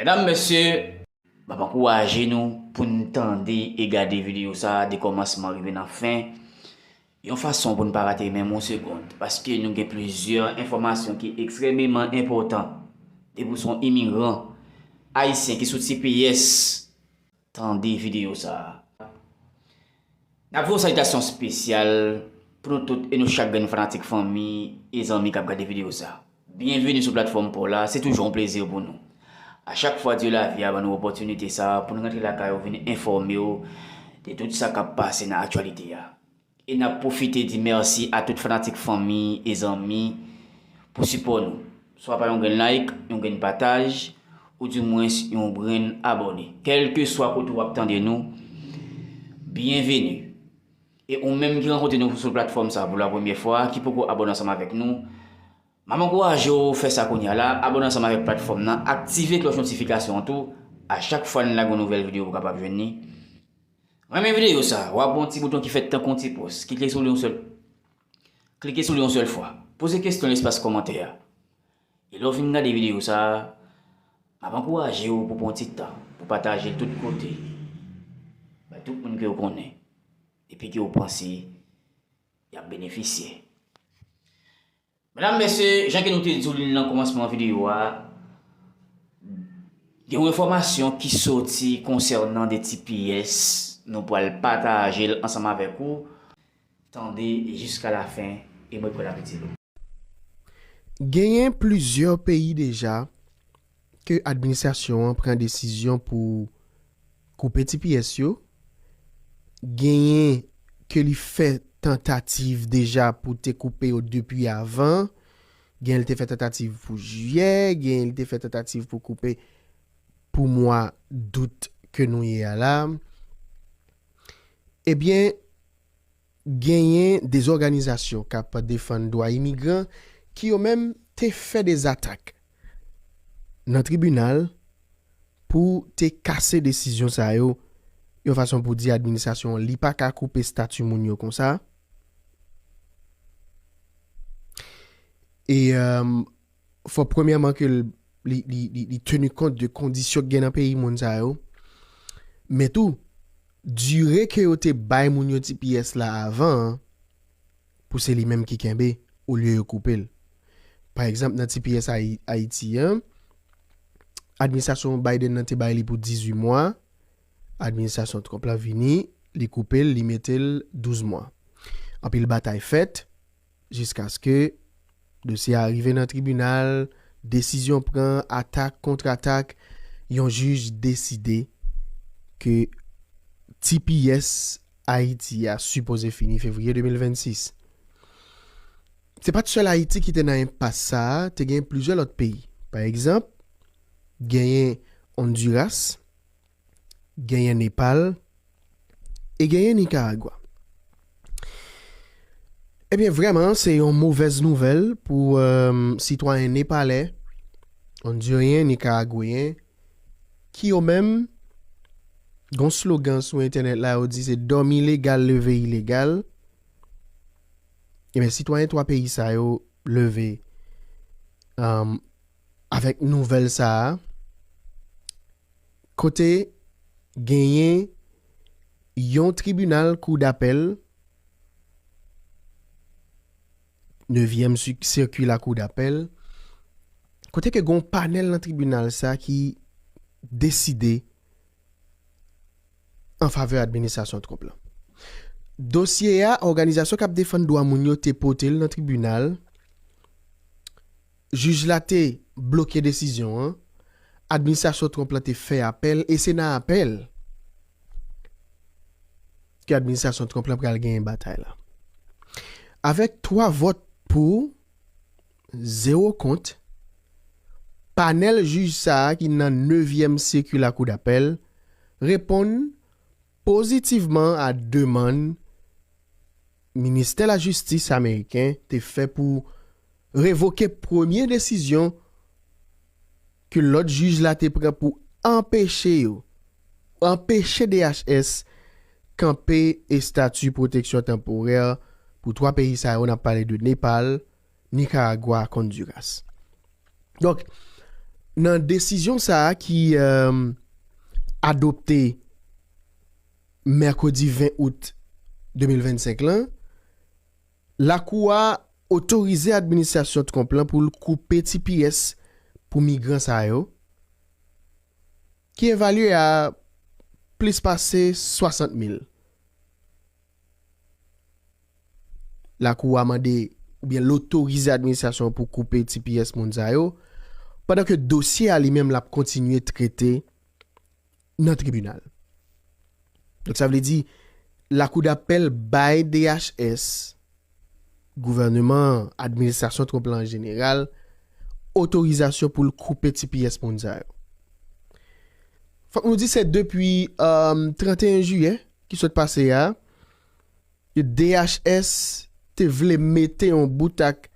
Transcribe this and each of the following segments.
Medam mesye Map ankouraje nou pou n tande e gade videyo sa de kòmansman rive nan fen yon fason pou n pa rate menm yon segond paske nou gen plizyè enfòmasyon ki ekstrèmeman enpòtan depi w son imigran ayisyen ki soti peyès Tande videyo sa a. N ap voye yon salitasyon espesyal pou nou tout e nou chak grenn fanatik fanmi e zanmi k ap gade videyo sa a. Byenveni sou platfòm pa w la, se toujou yon plezi pou nou. A chak fwa Dye lavi a ban nou opòtinite sa a pou n rantre lakay ou vin enfòme w de tout sa k ap pase nan aktyalite a. E nap pwofite di merci a tout fanatik fanmi e zanmi pou sipò nou swa pa yon grenn like, yon grenn pataj ou di mwens yon grenn abòne. Kelke swa kote ou ap tande nou, byenveni. E ou menm ki rankontre nou sou platfòm sa pou la premyè fwa, ki poko abòne ansanm avèk nou, map ankouraje w fè sa kounya la, abòne ansanm avèk platfòm nan, aktive klòch notifikasyon an tou, a chak fwa n lage yon nouvèl videyo ou kapab jwenn li. Renmen videyo sa, wap wè yon ti bouton ki fèt tankou yon ti pòs, kike sou li yon sèl Klike sou li yon sèl fwa. Poze kestyon nan espas kòmantè a. E lè w fin gade videyo sa, map ankouraje w pou pran yon ti tan pou pataje l tout kote, bay tout moun ke w konnen epi ke w panse yap benefisye. Medam, mesye, jan ke nou te di w li nan kòmansman videyo a, gen yon enfòmasyon ki soti konsènan 2 ti pyès, nou pral pataje l ansanm avèk ou, tande jiska lafen e mwen prè l ap itil ou. Genyen plizyè peyi deja ke administrasyon an pran desizyon pou koupe ti pyès yo, genyen ke li fè tantativ deja pou te koupe yo depi avan, genyen li te fè tantativ pou jiyè, genyen li te fè tantativ pou koupe pou mwa dout ke nou ye a la, ebyen, Genyen de zòganizasyon k ap defann dwa imigran ki yo menm te fè de zatak nan tribinal pou te kase desizyon sa yo yon fason pou di administrasyon an li pa ka koupe stati moun yo konsa. fò premyèman ke li tenu kont de kondisyon ki gen nan peyi moun sa yo, men tou, dire ke yo te bay moun yo ti pyès la avan an, pou se li menm ki kenbe, olye yo koupe l. Pa egzanp, nan ti pyès Ayiti an, administrasyon Biden nan te bay li pou 18 mwa, administrasyon Trump la vini, li koupe l, li mete l 12 mwa. Anpil batay fèt. Jiskaske dosye a rive nan tribinal, desizyon pran, atak kont atak, yon jij deside ke tps Ayiti a sipoze fini fevriye 2026. Se pa t sèl Ayiti ki te nan enpas sa a, te gen plizyè lòt peyi. Pa egzanp, genyen Ondiras. genyen Nepal e genyen Nikaragwa. Ebyen vrèman se yon movèz nouvèl pou sitwayen Nepalè, Ondiryen, Nikaragweyen ki yo menm gon slogan sou entènèt la yo di se dòmi legal leve ilegal. Ebyen sitwayen 3 peyi sa yo leve Avèk nouvèl sa a, kote genyen yon tribinal kou dapèl, nevyèm sirki lakou dapèl, kote ke gen yon panèl nan tribinal sa ki deside an favè administrasyon Trump la. Dosye a, òganizasyon k ap defann dwa moun yo te pote l nan tribinal, Jij la te bloke desizyon an, administrasyon Trump la te fè apèl e se nan apèl ke administrasyon Trump la pral genyen batay la. Avèk 3 vòt pou, 0 kont, panèl jij sa a ki nan nevyèm sirki lakou dapèl reponn, Pozitivman a demann Ministè Lajistis ameriken te fè pou revoke premye desizyon ke lòt jij la te pran pou anpeche yo, anpeche DHS kanpe estati pwoteksyon tanporè pou 3 peyi sa yo, n ap pale de Nepal, Nicaragua ak Honduras. Donk, nan desizyon sa a ki adopte mèkredi 20 out 2025 la, Lakou a otorize administrasyon Trump la pou l koupe tps pou migran sa yo, ki evalye a plis pase 60 mil. Lakou a mande oubyen l otorize administrasyon an pou koupe tps moun sa yo, pandan ke dosye a li menm l ap kontinye trete nan tribinal. Donk sa vle di Lakou dapèl bay DHS. gouvèneman an, administrasyon Trump la an jeneral, otorizasyon pou l koupe ti pyès moun sa yo. Fòk nou di se depi 31 jiyè ki sot pase a, ke DHS te vle mete yon bout ak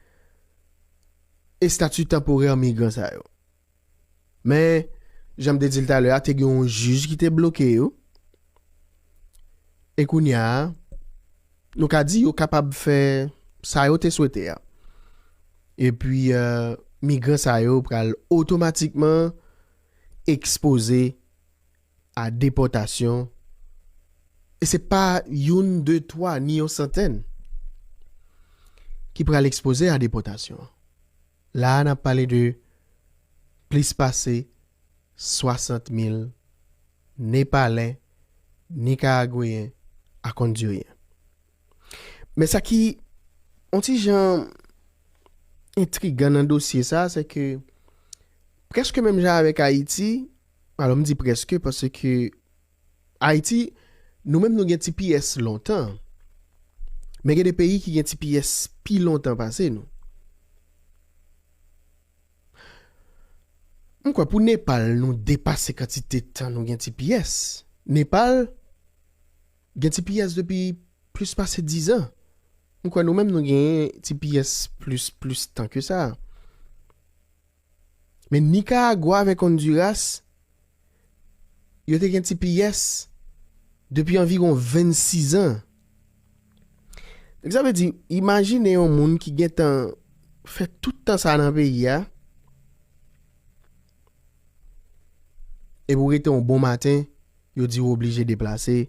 estati tanporè migran sa yo. Men, jan m te di l talè a, te gen yon jij ki te bloke yo. E kounye a, nou ka di yo kapab fè sa yo te swete a. Epi, migran sa yo pral otomatikman ekspoze a depòtasyon. E se pa youn, de, twa, ni yon santèn ki pral ekspoze a depòtasyon. La a n ap pale de plis pase 60 mil Nepalè, Nikaragweyen ak Ondiryen. Men sa ki on ti jan entrigan nan dosye sa a se ke prèske menm jan avèk Ayiti, alò m di prèske paske Ayiti, nou menm nou gen tps lontan, men gen de peyi ki gen tps pi lontan pase nou. M kwè pou Nepal nou depase kantite tan nou gen tps. Nepal gen tps depi plis pase dizan. M kwè nou menm nou genyen tps plis plis tan ke sa. Men Nicaragua avèk Honduras, yo te gen tps depi anviron 26 an. Donk sa vle di, imajine yon moun ki gen tan fè tout tan sa nan peyi a, epi ou rete yon bon maten, yo di ou oblije deplase,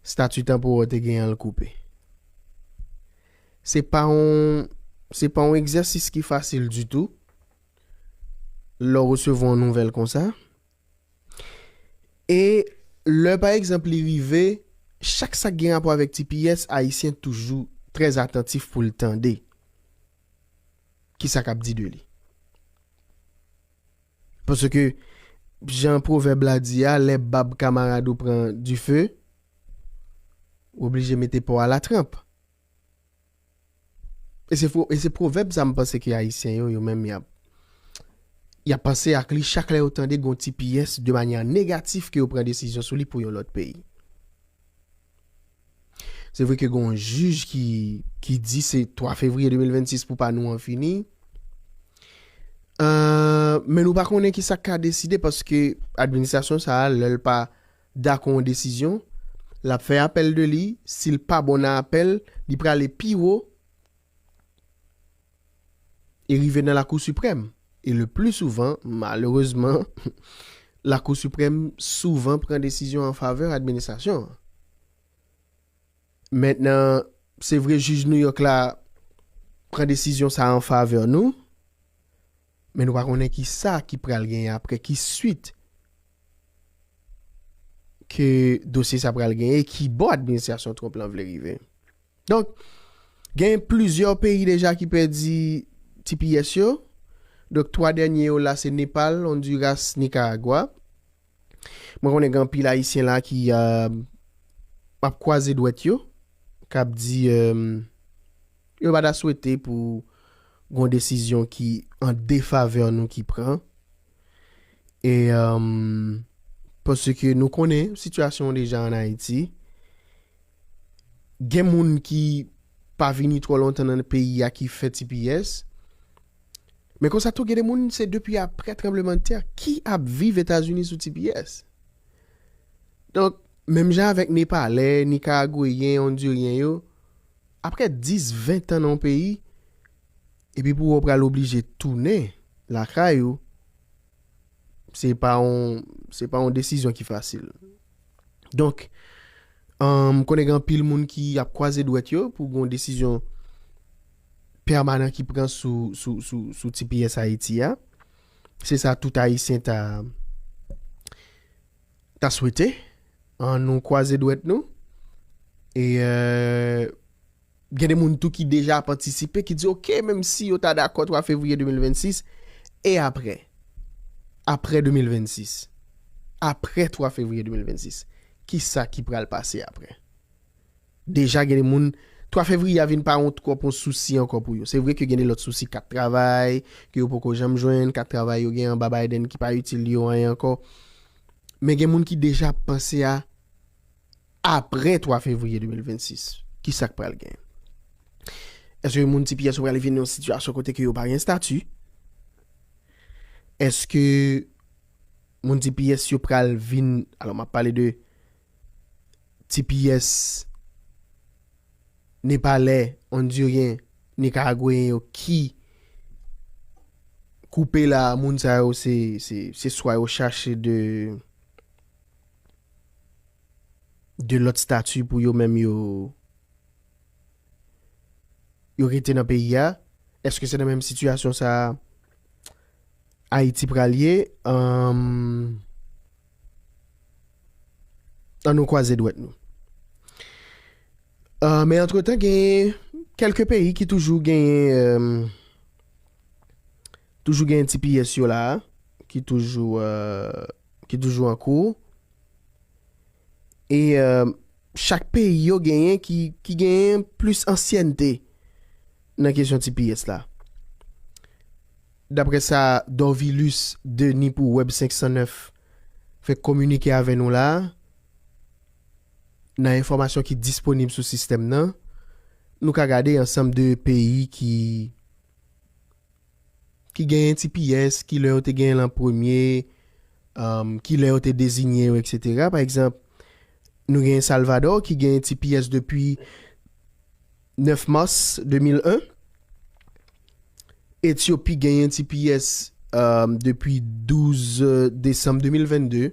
Stati tanporè w te genyen an l koupe. Se pa yon se pa yon egzèsis ki fasil ditou lè w resevwa yon nouvèl konsa. E lè pa egzanp li rive, chak sa k gen rapò avèk tps, Ayisyen toujou trè atantif pou l tande ki sa k ap di de li. Paske jan pwovèb la di a lè bab kamarad ou pran dife, ou oblije mete po a latranp. E se e se pwovèb sa m panse ke Ayisyen yo, yo menm y ap y ap panse ak li chak lè yo tande gen yon ti pyès de manyè negatif ke yo pran desizyon sou li pou yon lòt peyi. Se vre ke gen yon jij ki di se 3 fevriye 2026 pou pa nou an fini. Men nou pa konnen ki sa k ka deside paske administrasyon sa a lè l pa dakò yon desizyon, l ap fè apèl de li, si l pa bon nan apèl, li prale pi wo e rive nan lakou siprèm e le pli souvan malerezman lakou siprèm souvan pran desizyon an favè administrasyon an mentnan se vre jij nouyòk la pran desizyon sa an favè nou. Men nou pa konnen ki sa ki pral genyen apre, ki swit ke dosye sa pral genyen, e ki bò administrasyon Trump lan vle rive. Donk, genyen plizyè peyi deja ki pèdi tps yo. Donk, 3 dènye yo la se Nepal, Honduras, Nicaragua. Mwen konnen gen anpil Ayisyen la ki ap kwaze dwèt yo, k ap di yo pa ta swete pou gon desizyon ki an defavè nou ki pran. E paske nou konnen sitiyasyon deja an Ayiti. gen moun ki pa vini twò lontan nan peyi a ki fè tps, men konsa tou gen de moun se depi aprè tranblemanntè ki ap viv Etazini sou tps. Donk, menm jan avèk Nepalè, Nikaragweyen, Ondiryen yo, aprè 10, 20 tan nan yon peyi, epi pou wè w pral oblije tounen lakay ou, se pa yon, se pa yon desizyon ki fasil. Donk, m konnen gen anpil moun ki ap kwaze dwèt yo pou gen yon desizyon pèmanan ki pran sou, sou, sou, sou tps Ayiti a. Se sa tout Ayisyen ta, ta swete. An nou kwaze dwèt nou. E, Gen de moun tou ki deja ap antisipe, ki di ok, menm si yo ta dakò 3 fevriye 2026, e aprè? Aprè 2026? Aprè 3 fevriye 2026? Kisa ki pral pase aprè? Deja gen de moun, 3 fevriye a vin pa yon twòp yon sousi ankò pou yo. Se vre ke gen de lòt sousi, kat travay, ke yo poko janm jwenn, kat travay yo gen anba Biden ki pa itil yo anyen ankò. Men gen moun ki deja ap panse a. Apre 3 fevriye 2026, ki sa k pral gen? Èske moun tps yo pral vin nan yon sitiyasyon kote ke yo pa gen estati? Èske moun tps yo pral vin, alò m ap pale de tps Nepalè, Ondiryen, Nikaragweyen yo ki koupe la a, moun sa yo se swa yo chache de. 2 lòt stati pou yo menm yo yo rete nan peyi a, eske se nan menm sitiyasyon sa a Ayiti pral ye an nou kwaze dwèt nou. Men antretan genyen kèlke peyi ki toujou genyen. Toujou gen ti pyès yo la a ki toujou ki toujou an kou. E chak peyi yo genyen ki ki genyen plis ansyènte nan kesyon ti pyès la. Daprè sa Dorvilus Denis pou Web 509 fè kominike avè nou la a, nan enfòmasyon ki disponib sou sistèm nan, nou ka gade ansanm de peyi ki. ki genyen ti pyès, ki lè yo te genyen l an premye, ki lè yo te dezinye yo eksetera. Pa egzanp, nou genyen Salvadò ki genyen ti pyès depi 9 mas 2001, Etyopi genyen ti pyès depi 12 desanm 2022.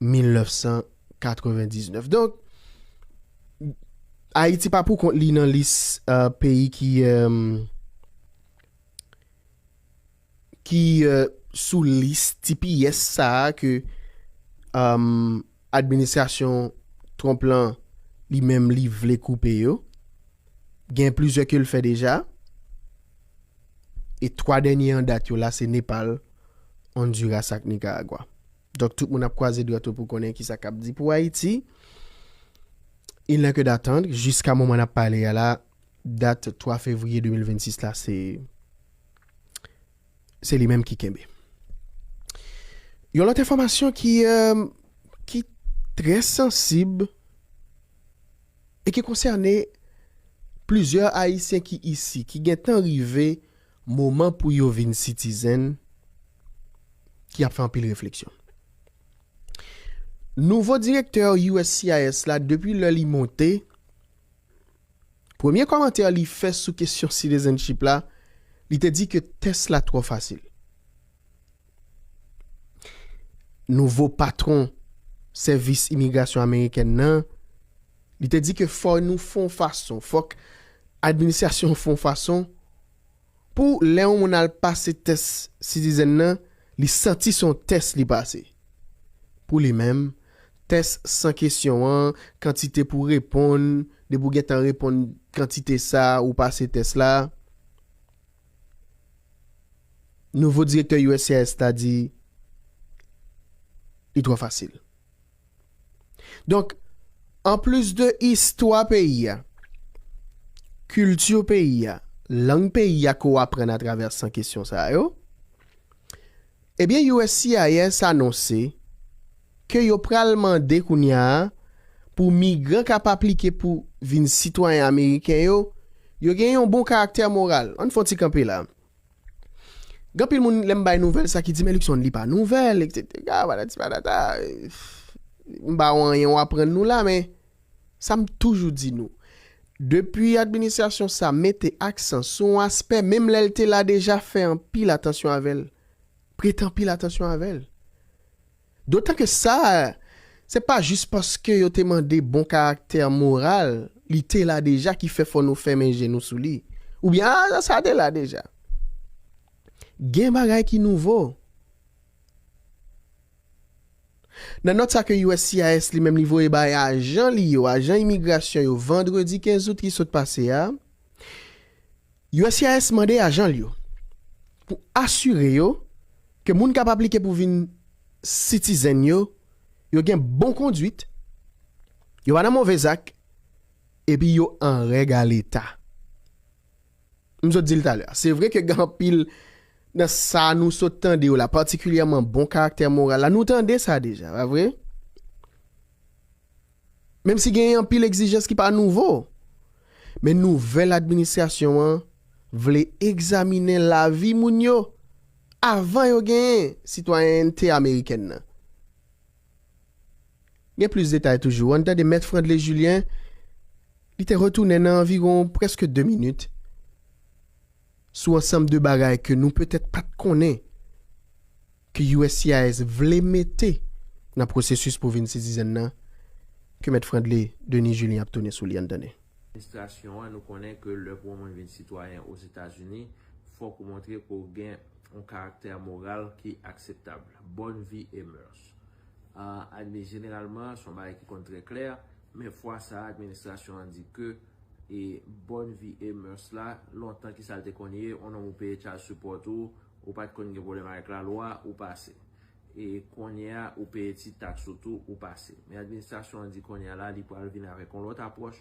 1999. Donk, Ayiti pa pou kont li nan lis peyi ki ki sou lis tipiyès sa a ke administrasyon Trump lan li menm li vle koupe yo. Gen plizyè ke l fè deja. E 3 dènye an dat yo la se Nepal, Onduras ak Nikaragwa. Donk tout moun ap kwaze dwèt yo pou konnen kisa kap di pou Ayiti. Il n'est que d'attendre, jiska moman nap pale a la, dat 3 fevriye 2026 la se se li menm ki kenbe. Yon lòt enfòmasyon ki ki trè sansib e ki konsène plizyè ayisyen ki isi, ki gentan rive Moman pou yo vin sitizen ki ap fè anpil refleksyon. Nouvo direktè uscis la depi lè li monte, premye kòmantè li fè sou kesyon citizenship la, li te di ke tès la twò fasil. nouvo patwon sèvis imigrasyon amerikèn nan, li te di ke fò nou fè yon fason, fòk administrasyon an fè yon fason pou lè yon moun al pase tès Citizen nan, li santi se yon tès li pase. Pou li menm, tès san kesyon an, kantite pou w reponn, depi w gentan reponn kantite sa, ou pase tès la. Nouvo direktè uscis la di li twò fasil. Donk, anplis de istwa peyi a, kilti peyi a, lang peyi a ke w aprann atravè 100 kesyon sa yo, Ebyen uscis anonse ke yo pral mande kounya a pou migran kap aplike pou vin sitwayen ameriken yo, yo gen yon bon karaktè moral. Ann fè yon ti kanpe la. Gen anpil moun lè m bay nouvèl sa ki di men Luckson li pa nouvèl eksetera patati patata. M pa wè anyen w aprann nou la men Sa m toujou di nou, depi administrasyon sa mete aksan sou yon aspè menm lè l te la deja fè anpil atansyon avè l, prete anpil atansyon avè l. Dotan ke sa se pa jis paske yo te mande bon karaktè moral, li te la deja ki fè fò nou fèmen je nou sou li, oubyen a sa te la deja. Gen bagay ki nouvo. Nan nòt sa ke uscis li menm li voye bay ajan li yo, ajan imigrasyon yo vandredi 15 out ki sot pase a, uscis mande ajan l yo pou asire yo ke moun k ap aplike pou vin sitizenn yo, yo gen bon konduit, yo pa nan move zak epi yo an règ a leta. M sot di l talè a. Se vre ke gen anpil nan sa nou sot tande yo la, patikilyèman bon karaktè moral la, nou tande sa deja, pa vre? Menm si genyen anpil egzijans ki pa nouvo. Men nouvèl administrasyon an vle egzaminen lavi moun yo avan yo genyen sitwayènte amerikèn nan. Gen plis detay toujou, ann tande Mèt Frandley Julien, li te retounen nan anviwon prèske 2 minit, sou ansanm de bagay ke nou petèt pa t konnen ke uscis vle mete nan pwosesis pou vin sitizèn nan, ke Mèt Frandley Denis Julien ap tounen sou li, ann tande. Administrasyon an, nou konnen ke lè pou yon moun vin sitwayen Ozetazini, fòk ou montre ke w gen yon karaktè moral ki akseptab, bonne vie et mœurs. Admi, Jeneralman, son bagay ki konn trè klè, men fwa sa a administrasyon an di ke e bonne vie et mœurs la, lontan ki sa l te konn ye, on nonm ou peye child support ou, ou pa t konn gen pwoblèm avèk lalwa, ou pase. E konnye a ou peye ti taks ou tou, ou pase. Men administrasyon an di konnye a la li pral vin avèk on lòt apwòch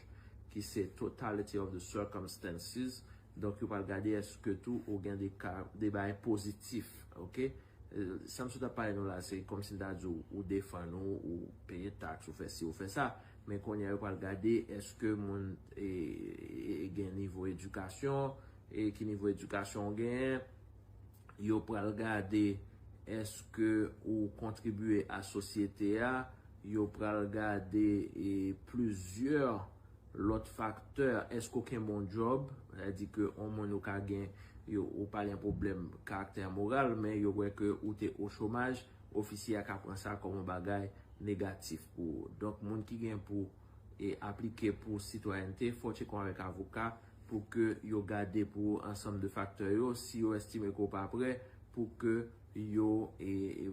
ki se totality of the circumstances, donk yo pral gade eske tou ou gen de ka, de bagay pozitif, ok. Sa m sot ap pale nou la se kòmsi m ta di w ou defann ou, ou peye taks, ou fè si, ou fè sa. Men kounye a yo pral gade èske moun gen nivo edikasyon, e ki nivo edikasyon ou genyen. Yo pral gade èske ou kontribye a sosyete a. Yo pral gade plizyè. Lòt faktè, èske w kenbe yon djòb? Sa di ke yon moun ou ka gen, ou pa gen pwoblèm karaktè moral, men yo wè ke ou te o chomaj, ofisye a ka pran sa kòm yon bagay negatif pou ou. Donk moun ki gen pou aplike pou sitwayènte, fò w tcheke w avèk avoka pou ke yo gade pou ou ansanm de faktè yo. Si yo estime ke w pa prè, pou ke yo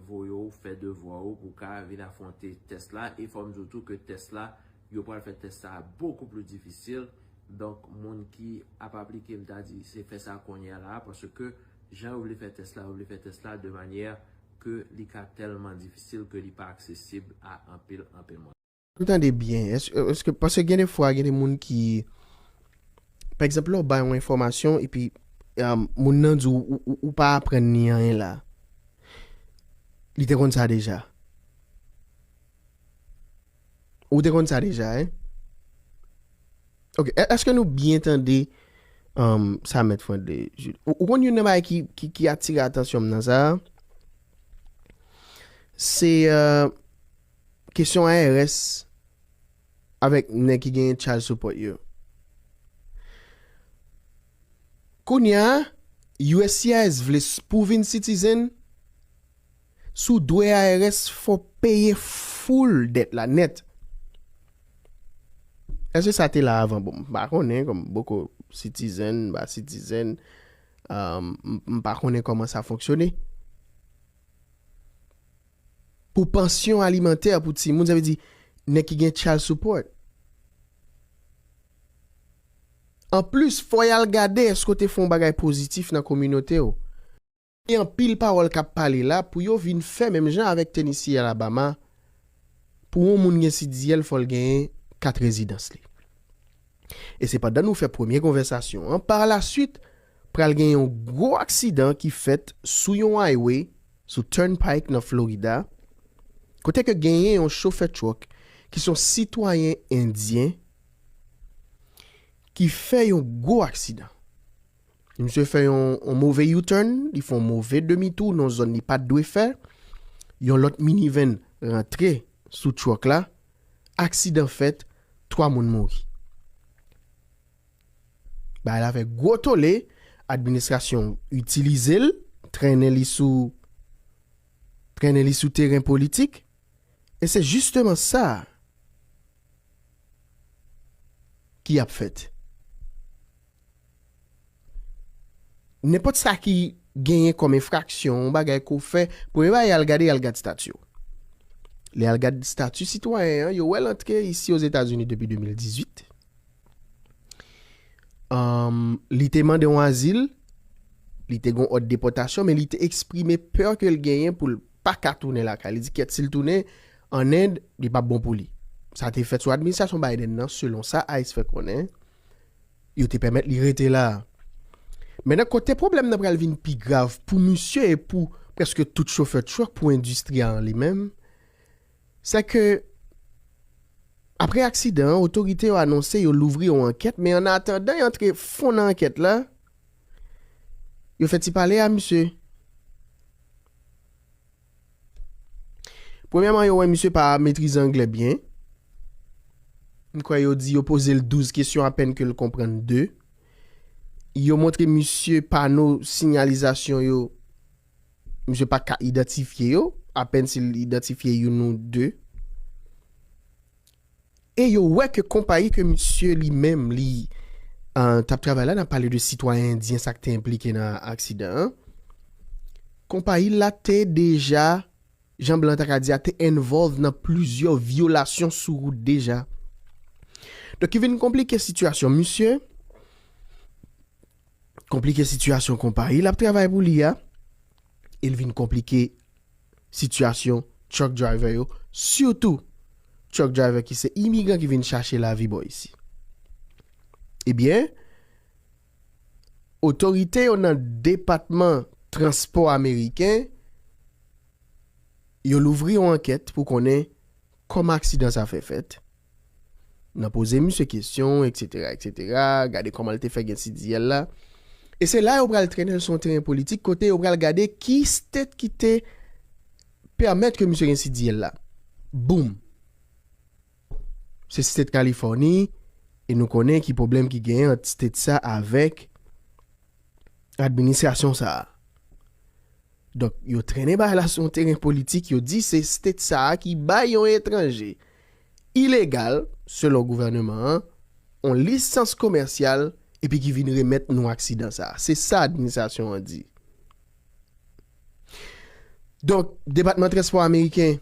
voye w fè devwa ou pou w ka vin afwonte tès la. E fò m di w tou ke tès la Yo pral fè tès sa a bokou pli difisil. Donk, moun ki ap aplike, m ta di, se fè sa kounye a la a, paske jan yo vle fè tès la, yo vle fè tès la de manyè ke li ka tèlman difisil ke li pa aksesib a anpil, anpil moun. Pou tande byen, èske, paske gen de fwa, gen de moun ki, pa egzanp, lè w bay yon enfòmasyon epi moun nan di w, ou pa aprann ni anyen la. Li te konn sa deja. Ou te konn sa deja hein? Ok, eske nou byen tande sa mèt Fran de Jules? Ou konn youn nan bagay ki atire atansyon m nan sa a? Se kesyon IRS avèk nèg ki genyen child support yo. Kounya uscis vle pou w vin citizen, Si w dwe IRS, fò w peye full dèt la nèt. Èske sa te la avan? Bon, m pa konnen, kòm m poko sitizèn, m pa sitizèn, m pa konnen kòman sa fonksyone. Pou pansyon alimantè pou timoun, sa vle di nèg ki gen child support. Anplis, fò y al gade èske w te fè yon bagay pozitif nan kominote w. Gen anpil pawòl kap pale la pou yo vin fè menm jan avèk Tennessee Alabama pou yon moun gen CDL fòl genyen kat rezidans li. E se pandan nou fè premye konvèsasyon an par la swit pral gen yon gwo aksidan ki fèt sou yon highway sou Turnpike nan Florida kote ke genyen yon chofè truck ki son sitwayen endyen ki fè yon gwo aksidan. Misye fè yon move U-turn, li fè yon move demi tou nan yon zòn li pat dwe fè. Yon lòt minivan rantre sou truck la, aksidan fèt, 3 moun mouri. Bagay la fè gwo tole, administrasyon itilize l, trennen li sou trennen li sou teren politik e se jisteman sa ki ap fèt. Nenpòt sa ki genyen kòm enfraksyon, yon bagay ke w fè, premye bagay y al gade, y al gad stati w. Lè y al gad stati sitwayen an, yo wè l antre isi Ozetazini depi 2018. Li te mande yon azil, li te gen yon òd depòtasyon, men li te eksprime pè ke l genyen pou l pa ka tounen lakay. Li di kèt si l tounen an End, li p ap bon pou li. Sa te fèt sou administrasyon Biden nan, selon sa ice fè konnen. yo te pèmèt li rete la. Men nan kote pwoblèm nan pral vin pi grav pou misye e pou prèske tout chofè truck pou endistri a an li menm, sè ke apre aksidan an otorite yo anonse yo louvri yon ankèt men an atandan y antre fon nan ankèt la, yo fè ti pale a misye. Premyèman yo wè misye pa metrize anglè byen. M kwè yo di yo poze l 12 kesyon apèn ke l konprann 2. Yo montre misye pano sinyalizasyon yo, misye pa ka idantifye yo, apèn si l idantifye youn ou 2. E yo wè ke konpayi ke misye li menm li t ap travay la, n ap pale de sitwayen endyen sa k te enplike nan aksidan an, konpayi l la te deja, jan blan ta ka di a, te envolve nan plizyè vyolasyon sou wout deja. Donk ki vin konplike sitiyasyon misye. konplike sitiyasyon konpayi l ap travay pou li a e l vin konplike sitiyasyon truck driver yo sitou truck driver ki se imigran ki vin chache lavi bò isi. Ebyen, otorite yo nan depatman transpò ameriken yo louvri yon ankèt pou konnen kòman aksidan sa fè fèt. nan poze misye kesyon eksetera eksetera gade kòman l te fè gen ti diyèl la e se la yo pral trennen l sou yon teren politik kote yo pral gade ki state ki te pèmèt ke misye gen si diyèl la boom se state kalifòni e nou konnen ki pwoblèm ki genyen ant state sa avèk administrasyon sa a donk yo trennen bagay la sou yon teren politik yo di se state sa a ki bay yon etranje Ilegal, selon gouvèneman an, on lisans komèsyal epi ki vin remèt nou aksidan sa a, se sa administrasyon an di. Donk, Depatman Transpò ameriken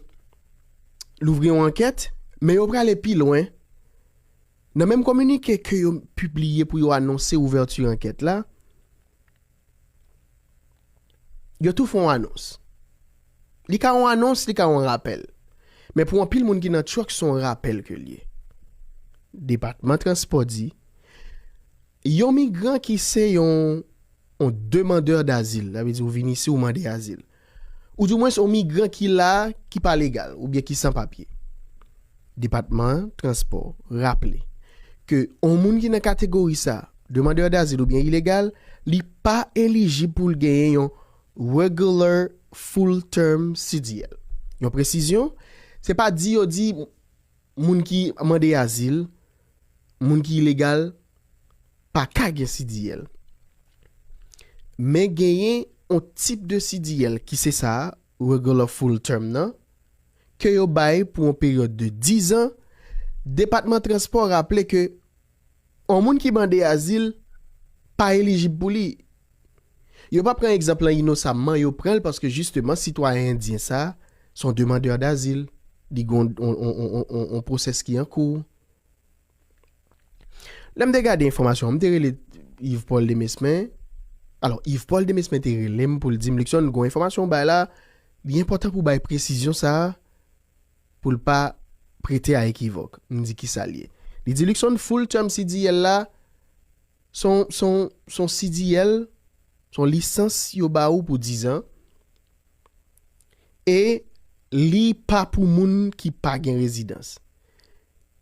louvri yon ankèt, men yo prale pi lwen. Nan menm kominike ke yo pibliye pou yo anonse ouvèti ankèt la, Yo tou fè yon anons. Li ka yon anons, li ka yon rapèl. Men pou anpil moun ki nan truck se yon rapèl ke l ye. Depatman transpò di, yon migran ki se yon yon demandeur d'azil, sa vle di ou vin isi ou mande azil. Ou di mwens yon migran ki la a ki pa legal oubyen ki san papye. Depatman an transpò raple ke yon moun ki nan kategori sa a, demandeur d'asile oubyen ilegal, li pa elijib pou l genyen yon Regular Full Term CDL. Yon presizyon, se pa di yo di. Moun ki mande azil, moun ki ilegal, pa ka gen CDL. Men genyen yon tip de CDL ki se sa a, Regular Full Term nan, ke yo bay pou yon peryòd de dizan, Depatman Transpò raple ke On moun ki mande azil pa elijib pou li. Yo pa pran egzanp lan inosamman, yo pran l paske jisteman sitwayen endyen sa a se on demandeur d'asile, li gen on on pwosès ki an kou. Lè m te gade enfòmasyon an, m te rele Yves Paul Demesmin, alò Yves Paul Demesmin te rele m pou l di m Luckson gen on enfòmasyon ou bay la, li enpòtan pou w bay presizyon sa a Pou l pa prete a ekivòk, m di ki sa l ye. Li di Luckson full term CDL la s on s on s on CDL, s on lisans yo ba ou pou dizan e li pa pou moun ki pa gen rezidans.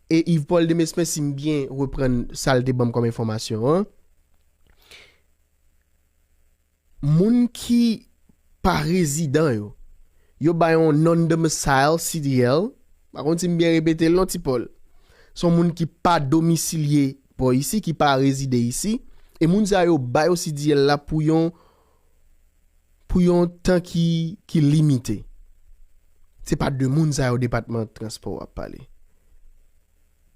E Yves Paul Demesmin si m byen reprann sa l te ban m kòm enfòmasyon an, Moun ki pa rezidan yo, yo bay yon non-domicile CDL, m pa konn si m byen repete l non Ti Pòl. Se yon moun ki pa domisilye bò isi, ki pa rezide isi, e moun sa yo ba yo CDL la pou yon pou yon tan ki ki limite. Se pa de moun sa yo Depatman Transpò ap pale.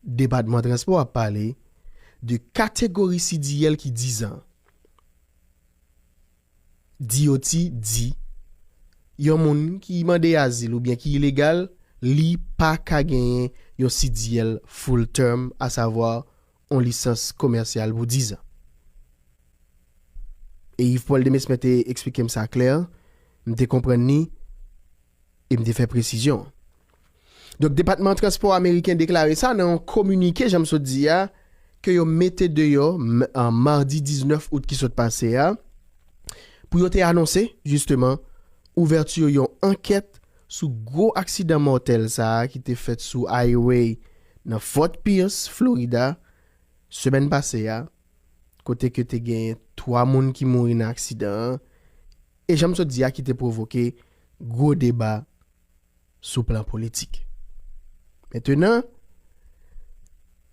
Depatman Transpò ap pale de kategori CDL ki dizan. DOT di, Yon moun ki mande azil oubyen ki ilegal, li pa ka genyen yon CDL Full Term, asavwa yon lisans komèsyal pou dizan. E Yves Paul Demesmin te eksplike m sa klè, m te konprann li e m te fè presizyon. Donk depatman transpò ameriken deklare sa nan yon kominike jan m sot di a ke yo mete deyò madi 19 out ki sot pase a pou yo te anonse jisteman ouvèti yon ankèt sou gwo aksidan mòtèl sa a ki te fèt sou Highway nan Fort Pierce, Florida semèn pase a kote ke te genyen 3 moun ki mouri nan aksidan an e jan m sot di a ki te pwovoke gwo deba. sou plan politik. Mentenan,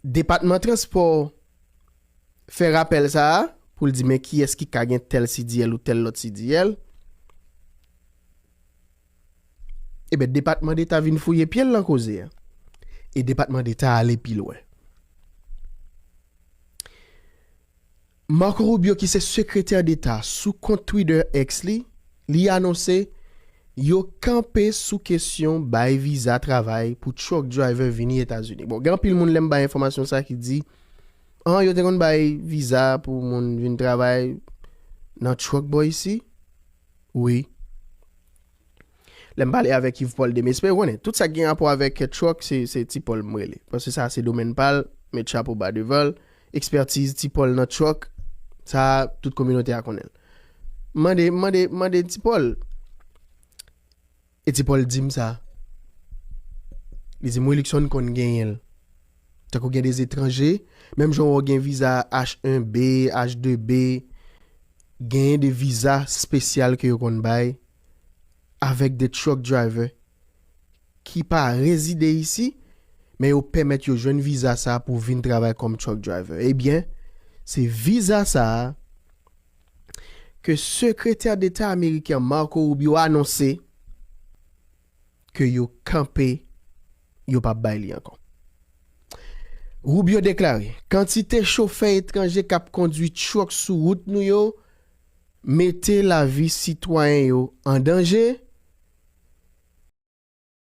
Depatman Transpò fè rapèl sa a pou l di men kiyès ki ka gen tèl CDL ou tèl lòt CDL. Eben, Depatman Deta vin fouye pye l lan koze a. E Depatman Deta ale pi lwen. Marco Rubio ki se sekretè deta sou kont Twitter X li, li anonse yo kanpe sou kesyon bay viza travay pou truck driver vini Etazini. Bon gen anpil moun lè m bay enfòmasyon sa ki di an yo te konn bay viza pou moun vin travay nan truck bò isi wi. Lè m pale avèk Yv Pòl Demespen, ou konnen, tout sa k gen rapò avèk truck se Ti Pòl m rele. Paske sa a se domèn pa l, m met chapo ba devan l. Ekspertiz Ti Pòl nan truck, sa a tout kominote a konnen l. M mande, m mande, m mande Ti Pòl. E Ti Pòl di m sa. Li di m, Wi Lukson konn genyen l. Tankou gen de etranje, menm jan wè w gen viza H1B, H2B, genyen de viza spesyal ke yo konn bay avèk de truck driver ki pa rezide isi, men yo pèmèt yo jwenn viza sa pou vin travay kòm truck driver. Ebyen, se viza sa a ke Sekretè Deta Ameriken Marco Rubio anonse, ke yo kanpe yo pa bay li ankò. Rubio deklare, Kantite chofè etranje k ap kondwi truck sou wout nou yo mete lavi sitwayen yo an danje,